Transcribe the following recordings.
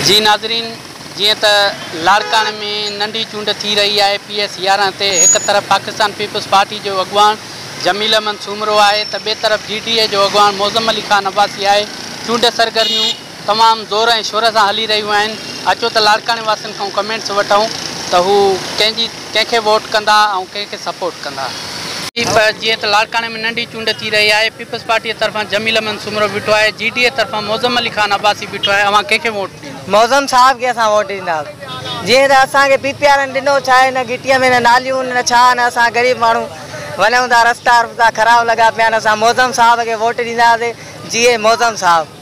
جي ناظرين جيئن ته لاڙڪاڻي ۾ ننڍي چونڊ ٿي رهي آهي پي ايس يارهن تي هڪ طرف پاڪستان پيپلز پارٽي جو اڳواڻ جميل احمد سومرو آهي ته ٻي طرف جي ڊي اي جو اڳواڻ معظم علي خان عباسي آهي چونڊ سرگرميون تمام زور ۽ شور سان هلي رهيون آهن اچو ته لاڙڪاڻي واسين کان ڪمينٽس وٺون ته هو ڪنهن جي ڪنهن کي ووٽ ڪندا ۽ ڪنهن کي سپورٽ ڪندا. پ پ جيئن ته لاڙڪاڻي ۾ ننڍي چونڊ ٿي رهي آهي پيپلز پارٽيء طرفان جميل احمد سومرو بيٺو آهي جي ڊي اي طرفان معظم علي خان عباسي بيٺو آهي اوهان ڪنهن کي ووٽ ڏيندا. معظم صاحب کي اسان ووٽ ڏينداس جيئن ته اسان کي پي پي وارن ڏنو ڇا هن گهٽيء ۾ نه ناليون نه ڇا نه اسان غريب ماڻهو وڃون ٿا رستا رستا خراب لڳا پيا آهن اسان معظم صاحب کي ووٽ ڏينداسين جيئي معظم صاحب.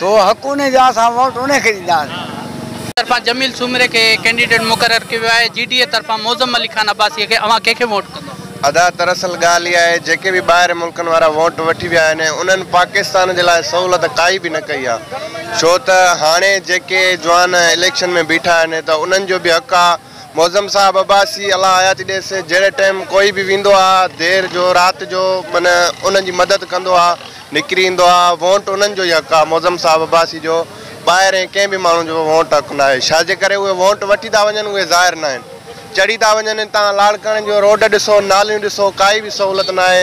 سو حق انهي جو آهي اسان ووٽ انهي کي ڏينداسين. طرفان جميل سومري کي ڪينڊيڊيٽ مقرر ڪيو ويو آهي، جي ڊي اي طرفان معظم علي خان عباسيء کي، اوهان ڪنهن کي ووٽ ڪندو؟ ادا در اصل ڳالهه اها آهي جيڪي به ٻاهرين ملڪن وارا ووٽ وٺي ويا آهن انهن پاڪستان جي لاء سهولت ڪائي به نه ڪئي آهي ڇو ته هاڻي جيڪي جوان اليڪشن ۾ بيٺا آهن ته انهن جو به حق آهي معظم صاحب عباسي الله حياتي ڏيس جهڙي ٽيم ڪوئي به ويندو آ دير جو رات جو من انهن جي مدد ڪندو آ نڪري ايندو آ وونٽ انهن جو ئي حق آ معظم صاحب عباسي جو ٻاهرين ڪنهن به ماڻهو جو وونٽ حق ناهي ڇاجي ڪري اهي وونٽ وٺي ٿا وڃن اهي ظاهر ناهن چڙهي ٿا وڃن هتان لاڙڪاڻي جو روڊ ڏسو ناليون ڏسو ڪائي به سهولت ناهي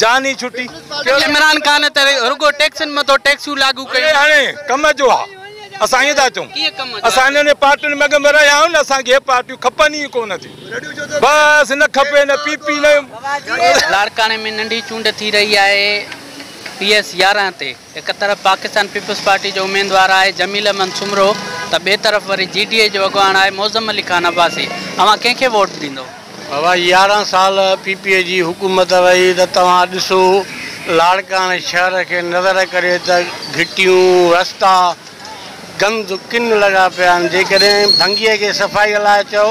جان ئي ڇٽي. عمران خان ته رڳو ٽيڪسن مٿو ٽيڪسون لاڳو ڪيون. اهي هاڻي ڪم جو آ. اسان ائين ٿا چئون. ڪيئن ڪم جو آ؟ اسان انهن پارٽين ۾ اڳ ۾ رهيا آهيون نه اسان کي اهي پارٽيون کپن ئي ڪونه ٿيون. بس نه کپي نه پي پي نه. لاڙڪاڻي ۾ ننڍي چونڊ ٿي رهي آهي پي ايس يارهن تي. هڪ طرف پاڪستان پيپلز پارٽي جو اميدوار آهي جميل احمد سومرو ته ٻئي طرف وري جي ڊي اي جو اڳواڻ آهي معظم علي خان عباسي اوهان ڪنهن کي ووٽ ڏيندو؟ بابا يارهن سال پي پي اي جي حڪومت رهي ته توهان ڏسو لاڙڪاڻي شهر کي نظر ڪري ته گهٽيون رستا گند ڪن لڳا پيا آهن جيڪڏهن ڀنگي کي صفائي لاء چئو